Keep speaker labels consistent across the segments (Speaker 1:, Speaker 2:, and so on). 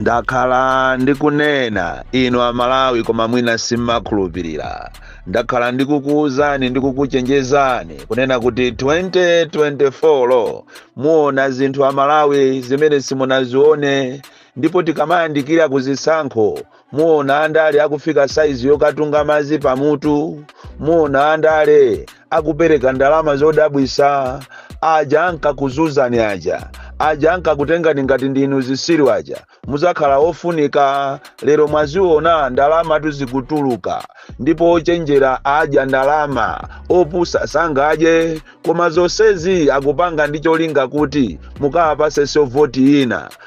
Speaker 1: Ndakhala ndikunena inu amalawi koma mwina simmakhulupilila, ndakhala ndikukuuzani ndi kukuchenjezani kunena kuti 2024 muona zinthu amalawi zimene simunazione ndipo tikamayandikira kuzisankho muona andale akufika saizi yokatunga mazi pamutu, muona andale akupereka ndalama zodabwisa aja ankakuzuzani aja aja ankakutengani ngati ndinu zisiru aja muzakhala ofunika lero mwaziona ndalama tu zikutuluka ndipo ochenjera adya ndalama opusa sangadye koma zonsezi akupanga ndi cholinga kuti mukawapase so voti ina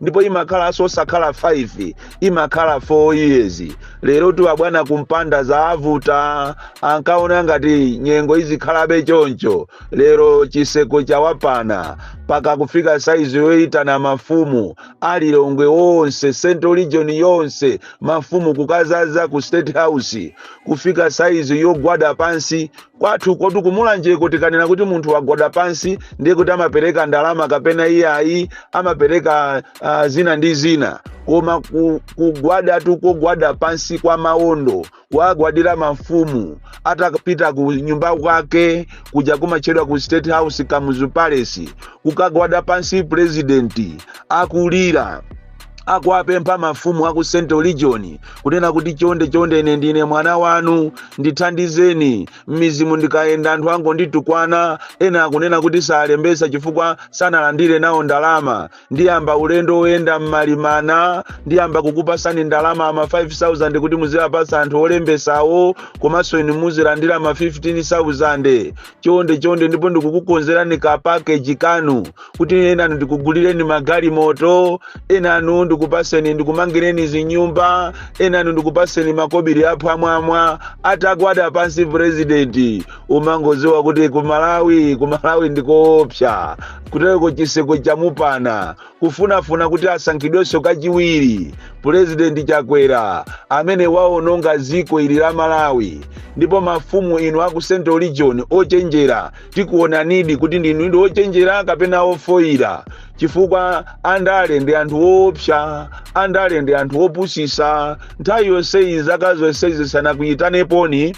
Speaker 1: ndipo imakhalanso osakhala 5 imakhala 4 years lero ti abwana kumpanda zaavuta ankaona ngati nyengo izikhalabe choncho lero chiseko chawapana paka kufika saizi yoyitana mafumu alilongwe onse central region yonse mafumu kukazaza ku state house kufika saizi yogwada pansi Kwathu kotu kumulanjeko tikanena kuti munthu wagwada pansi ndiye kuti amapereka ndalama kapena iye ayi amapereka uh, zina ndi zina koma ku- kugwadatu kogwada pansi kwa maondo kuwagwadira mafumu atapita ku nyumba kwake kuja kumatchedwa ku state house kamuzu palace kukagwada pansi purezidenti akulira akuwapempha mafumu aku central region kunena kuti chonde chonde ine ndine mwana wanu ndithandizeni m'midzimu ndikayenda anthu angonditukwana ena akunena kuti salembesa chifukwa sanalandire nawo ndalama ndiyamba ulendo woyenda m'mali mana ndiyamba kukupasani ndalama ama 5000 kuti muziwapasa anthu olembesawo komanso inu muzilandira ma 15000 chonde chonde ndipo ndikukukonzerani ka pakeji kanu kuti enanu ndikugulireni magalimoto enanu ndikupaseni ndikumangireni zinyumba enanu ndikupaseni makobiri aphwamwamwa atagwada pansi purezidenti umangoziwa kuti kumalawi kumalawi ndikoopsya kutereko chiseko chamupana kufunafuna kuti asankhidwenso kachiwiri pulezidenti chakwera amene waononga dziko ili la malawi ndipo mafumu inu aku central region ochenjera tikuonanidi kuti ndinu ndi ochenjera kapena ofoyira chifukwa andale ndi anthu oopsa andale ndi anthu opusisa nthawi yonseyi zaka zonsezi sanakuyitaneponi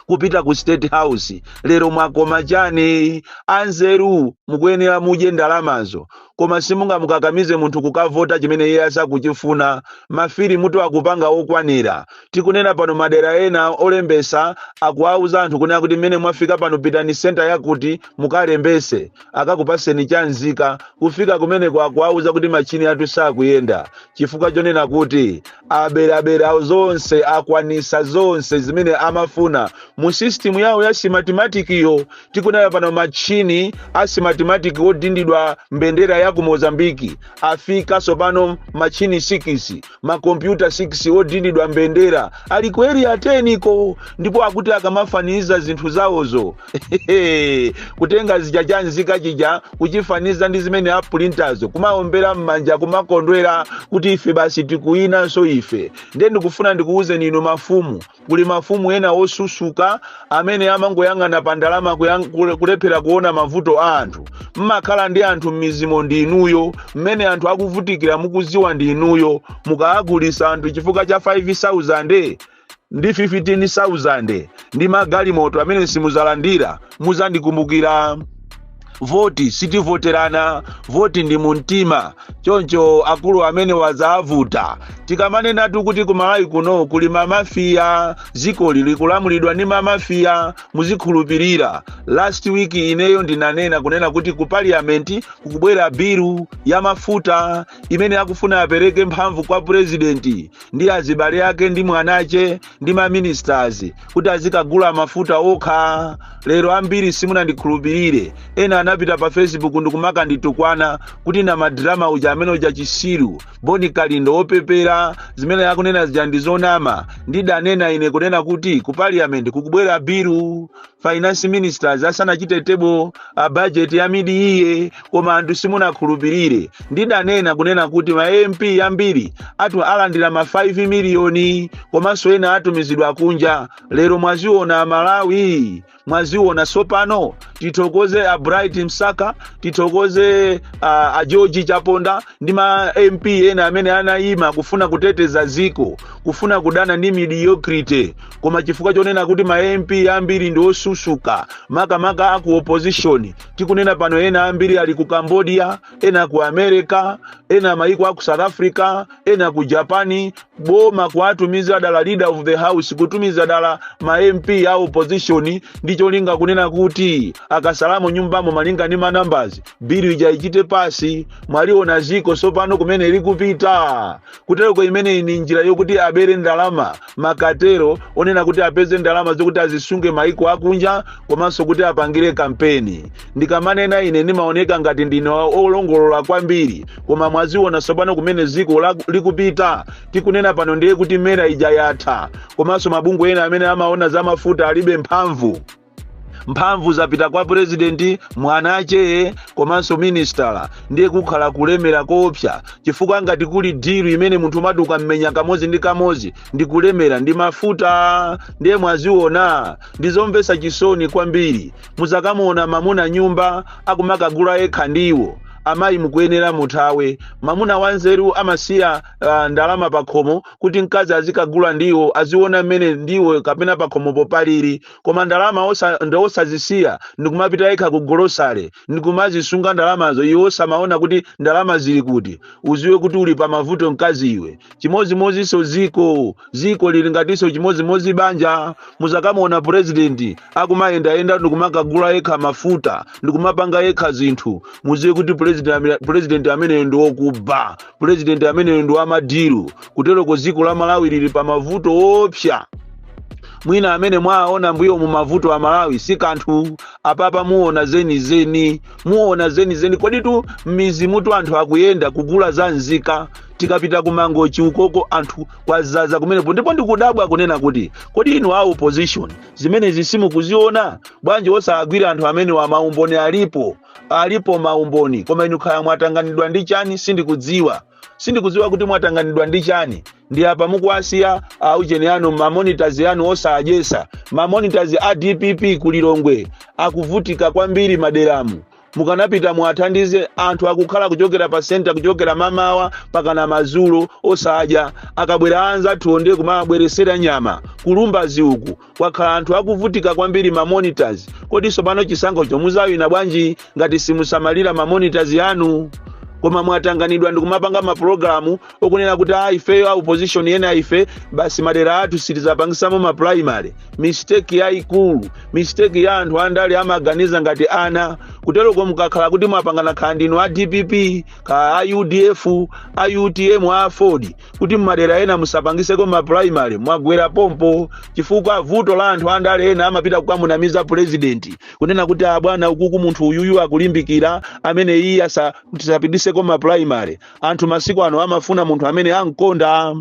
Speaker 1: kupita ku state house lero mwakoma chani anzeru mukuyenera mudye ndalamazo koma simungamukakamize munthu kukavota chimene iye asakuchifuna mafilimutu akupanga okwanira tikunena pano madera ena olembesa akuwauza anthu kunena kuti mmene mwafika pano pitani senta yakuti mukalembese akakupaseni cha nzika kufika kumeneko akuwauza kuti machini athu sakuyenda chifukwa chonena kuti aberabera awo zonse akwanisa zonse zimene amafuna mu sistimu yawo ya simatimatikiyo tikunayo pano machini a simatimatiki odindidwa mbendera ya ku mozambiki afika sopano machini 6 makompyuta 6 odindidwa mbendera ali ku area 10-ko ndipo akuti akamafaniziza zinthu zawozo kutenga chija cha nzika chija kuchifaniza ndi zimene apulintazo kumaombera m'manja kumakondwera kuti ife basi tikuwinanso ife ndiye ndikufuna ndikuwuzeni inu mafumu kuli mafumu ena osusuka amene amangoyang'ana pa ndalama kuyang- kule- kulephera kuona mavuto a anthu mmakhala ndi anthu m'mizimo ndi inuyo mmene anthu akuvutikira mukuziwa ndi inuyo mukawagulisa anthu chifukwa cha 5000 ndi 15,000 ndi magalimoto amene simuzalandira muzandikumbukira voti sitivoterana voti ndi mumtima choncho akulu amene wazavuta tikamanenatu kuti ku malawi kuno kuli mamafiya zikoli likulamulidwa ndi mamafiya muzikhulupirira last week ineyo ndinanena kunena kuti ku parliament kukubwera bilu ya mafuta imene akufuna apereke mphamvu kwa purezidenti ndi azibale ake ndi mwanache ndi maministers kuti azikagula mafuta okha lero ambiri simunandikhulupirire ena anapita pa facebook ndikumakanditukwana kuti namadrama uja ameneuja chisiru boni kalindo opepera zimene akunena zija ndi zonama ndidanena ine kunena kuti ku parliament kukubwera bilu finance minister asanachite table budget ya mid year koma anthu simunakhulupirire ndidanena kunena kuti ma mp ambiri athu alandira ma 5 miliyoni komanso ena atumizidwa kunja lero mwaziona amalawi mwaziona sopano tithokoze a bright msaka tithokoze a, a george chaponda ndi ma mp ena amene anayima kufuna kuteteza ziko kufuna kudana ndi mediocrity koma chifukwa chonena kuti ma mp ambiri ndi osusuka makamaka aku opposition tikunena pano ena ambiri ali ku cambodia ena ku america ena mayiko aku south africa ena ku japani boma kuwatumiza dala leader of the house kutumiza dala ma mp a opposition ndi cholinga kunena kuti akasalamo nyumbamo malinga ndi manambazi bilu ija ichite pass mwaliona ziko sopano kumene likupita kutereko imeneyi ni njira yokuti abere ndalama makatero onena kuti apeze ndalama zokuti azisunge maiko akunja komanso kuti apangire kampeni ndikamanena ine ndimaoneka ngati ndine wa- olongolola kwambiri koma mwaziona sopano kumene ziko la- likupita tikunena pano ndiye kuti mera ija yatha komanso mabungwe ena amene amaona za mafuta alibe mphamvu mphamvu zapita kwa purezidenti mwana wake komanso minisitala ndiye kukhala kulemera koopsa chifukwa ngati kuli dilu imene munthu umati ukaimenya kamodzi ndi kamodzi ndi kulemera ndi mafuta ndiye mwaziona ndi zomvetsa chisoni kwambiri muzakamuona mamuna nyumba akumakagula yekha ndiwo amayi mukuyenera muthawe mamuna wanzeru amasiya uh, ndalama pakhomo kuti mkazi azikagula ndiwo aziona mmene ndiwo kapena pakhomopo palili koma ndalama osa, ndi osazisiya ndikumapita yekha ku golosale ndikumazisunga ndalamazo iwe osamaona kuti ndalama zili kuti uziwe kuti uli pa mavuto mkazi iwe chimodzimodzinso ziko ziko lili ngatinso chimodzimodzi banja muzakamuona purezidenti akumayendayenda ndikumakagula yekha mafuta ndikumapanga yekha zinthu muziwe kuti purezidenti ame- purezidenti ameneyo ndi wokuba pulezidenti ameneyo ndi wamadilu kuteroko dziko la malawi lili pa mavuto oopsa mwina amene mwaona mbuyomu mavuto a malawi si kanthu apapa muona zenizeni muona zenizeni koditu m'mizimutu anthu akuyenda kugula za nzika tikapita kumangochi ukoko anthu kwazaza kumenepo ndipo ndikudabwa kunena kuti kodi inu a opposition zimenezi simukuziona bwanji osagwira anthu amenewa maumboni alipo Alipo ma umboni, koma inu kaya mwatanganidwa ndi chani sindikudziwa. Sindikudziwa kuti mwatanganidwa ndi chani. Ndi apa mukuwasiya a ujeni anu ma monitors anu osadyesa. Ma monitors a DPP ku Lilongwe akuvutika kwambiri maderamu. Mukanapita muwathandize anthu akukhala kuchokera pa center kuchokera mamawa mpakana madzulo osadya. Akabwera anzathu onde kumabweresera nyama kulumbazi uku kwakhala anthu akuvutika kwambiri ma monitors kodi tsopano chisankhocho muzawina bwanji ngati simusamalira ma monitors anu koma mwatanganidwa ndikumapanga mapulogalamu okunena kuti aa ifeyo a opposition enaife basi madera athu sitizapangisamo ma primary mistake yayikulu mistake ya anthu andale amaganiza ngati ana kuteroko mukakhala kuti mwapangana khala ndinu a dpp khala a udf a utm a aford kuti m'madera ena musapangiseko ma primary mwagwera pompo chifukwa vuto la anthu andale ena amapita kukamunamiza pulezidenti kunena kuti abwana ukuku munthu uyuyu akulimbikira amene iye asa- tisapitiseko ma primary anthu masiku ano amafuna munthu amene amkonda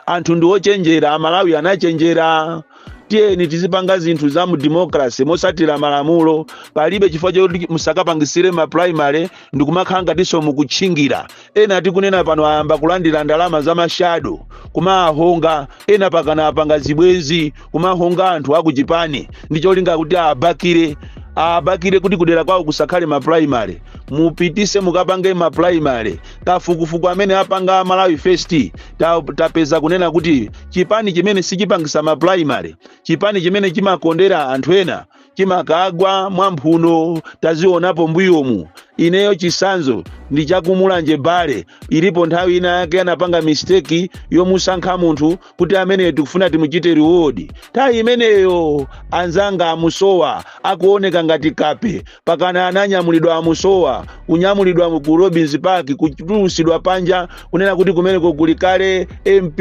Speaker 1: anthu ndi ochenjera amalawi anachenjera tiyeni tizipanga zinthu za mu democracy mosatira malamulo palibe chifukwa choti musakapangisire ma primary ndikumakhala ngatinso mukutchingira ena tikunena pano ayamba kulandira ndalama za mashado kumahonga ena mpakana apanga zibwenzi kumahonga anthu akuchipani ndi cholinga kuti abakire abakire kuti kudera kwawo kusakhale ma primary mupitise mukapange ma primary kafukufuku amene apanga a malawi first ta- tapeza kunena kuti chipani chimene sichipangisa ma primary chipani chimene chimakondera anthu ena chimakagwa mwamphuno tazionapo mbuyomu ineyo chisanzo ndi chakumulanje bale ilipo nthawi ina yake anapanga misteki yomusankha munthu kuti ameneyo tikufuna timuchite reward nthawi imeneyo anzanga amusowa akuoneka ngati kape mpakana ananyamulidwa amusowa kunyamulidwa ku robins park kutulusidwa panja kunena kuti kumeneko kuli kale mp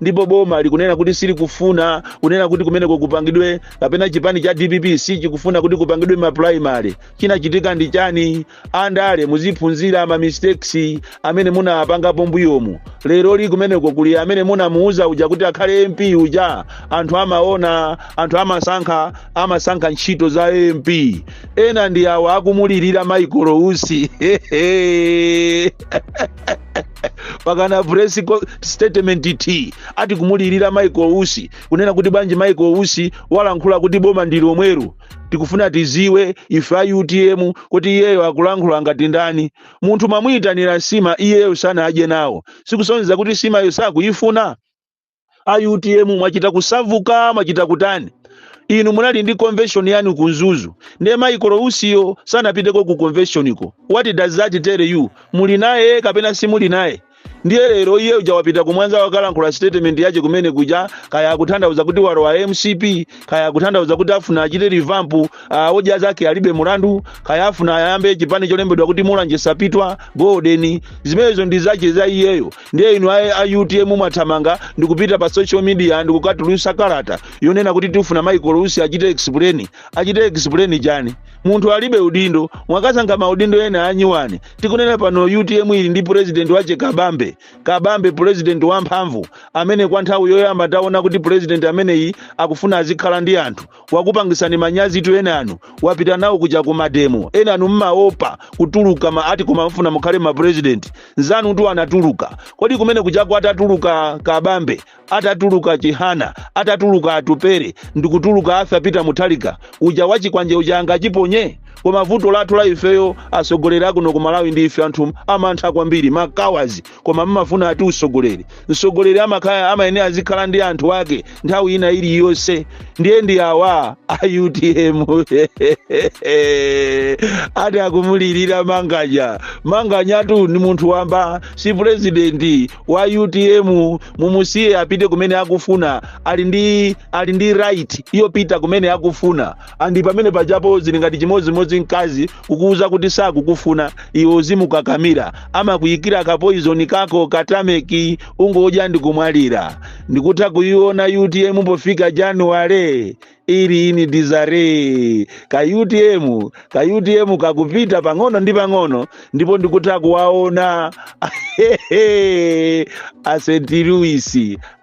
Speaker 1: ndipo boma likunena kuti silikufuna kunena kuti kumeneko kupangidwe kapena chipani cha dpp sichikufuna kuti kupangidwe maprimary chinachitika ndi chani andale muziphunzira ma mistakes amene munapangapo mbuyomu lero li kumeneko kuli amene munamuuza uja kuti akhale mp uja anthu amaona anthu amasankha amasankha ntchito za mp ena ndi awo akumulirira michael usi mpakana press statement t ati kumulirira michael usi kunena kuti bwanji michael usi walankhula kuti boma ndi lomweli tikufuna tiziwe ife a utm kuti iyeyo akulankhula ngati ndani Munthu mwamuitanira nsima iyeyo sanadye nawo sikusonyeza kuti nsimayo sakuyifuna? A utm mwachita kusauka mwachita kutani? Inu munali ndi convention yanu ku Mzuzu ndiye Michael Usiyo sanapiteko ku convention ko? What does that tell you? Muli naye kapena simuli naye? ndiye lero iyeyo uja wapita kumwanza wakalankhula statement yache kumene kuja kaya akutanthauza kuti walowa mcp kaya akutanthauza kuti afuna achite revamp uh, odya zake alibe mulandu kaya afuna ayambe chipani cholembedwa kuti mulanje sapitwa golden zimenezo ndi zache za iyeyo ndiye inu a, a utm mwathamanga ndikupita pa social media ndikukatulusa kalata yonena kuti tifuna michael usi achite explain achite explain chani munthu alibe udindo mwakasankha maudindo ena anyuwani tikunena pano utm ili ndi purezidenti wache kabambe kabambe purezidenti wamphamvu amene kwa nthawi yoyamba taona kuti purezidenti ameneyi akufuna azikhala ndi anthu wakupangisani manyazitu enanu wapita nawo kuja ku mademo enanu mmaopa kutuluka mma ati koma mmafuna mukhale mapurezidenti nzanutu anatuluka kodi kumene kuja kutatuluka kabambe atatuluka chihana atatuluka atupele ndikutuluka apita mutharika uja wachikwanje uja akanachiponya koma vuto lathu la ifeyo atsogoleri akuno ku malawi ndi inu anthu amantha kwambiri makawazi koma mmafuna ati utsogoleri mtsogoleri amakhala amayenera azikhala ndi anthu ake nthawi ina iliyonse ndiye ndi awa a utm ati akumulirira manganya manganyatu ni munthu wamba si purezidenti wa utm mumusiye apite kumene akufuna ali ndi ali ndi right yopita kumene akufuna and pamene pajapo zili ngati chimodzimodzi mkazi kukuuza kuti sakukufuna iwe uzimukakamira amakuyikira kapoizoni kako katameki ungodya n'kumwalira ndikutha kuyiona utm pofika januwale ili mu disarray ka utm ka utm kakupita pang'ono ndi pang'ono ndipo ndikutha kuwaona st louis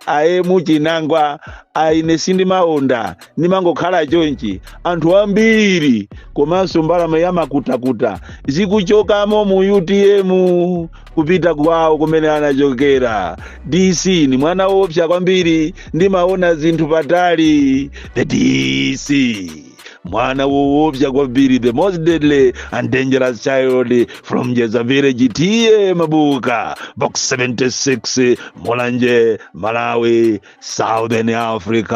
Speaker 1: aemu chinangwa aine sindimaonda ndimangokhala chonchi anthu ambiri komanso mbalame zamakutukutu zikuchokamo mu utm kupita kwawo kumene anachokera dc ndi mwana woopsa kwambiri ndimaona zinthu patali the dc mwana woopsa kwambiri the most deadly and dangerous child from jeza village t a mabuka box 76 mulanje malawi southern africa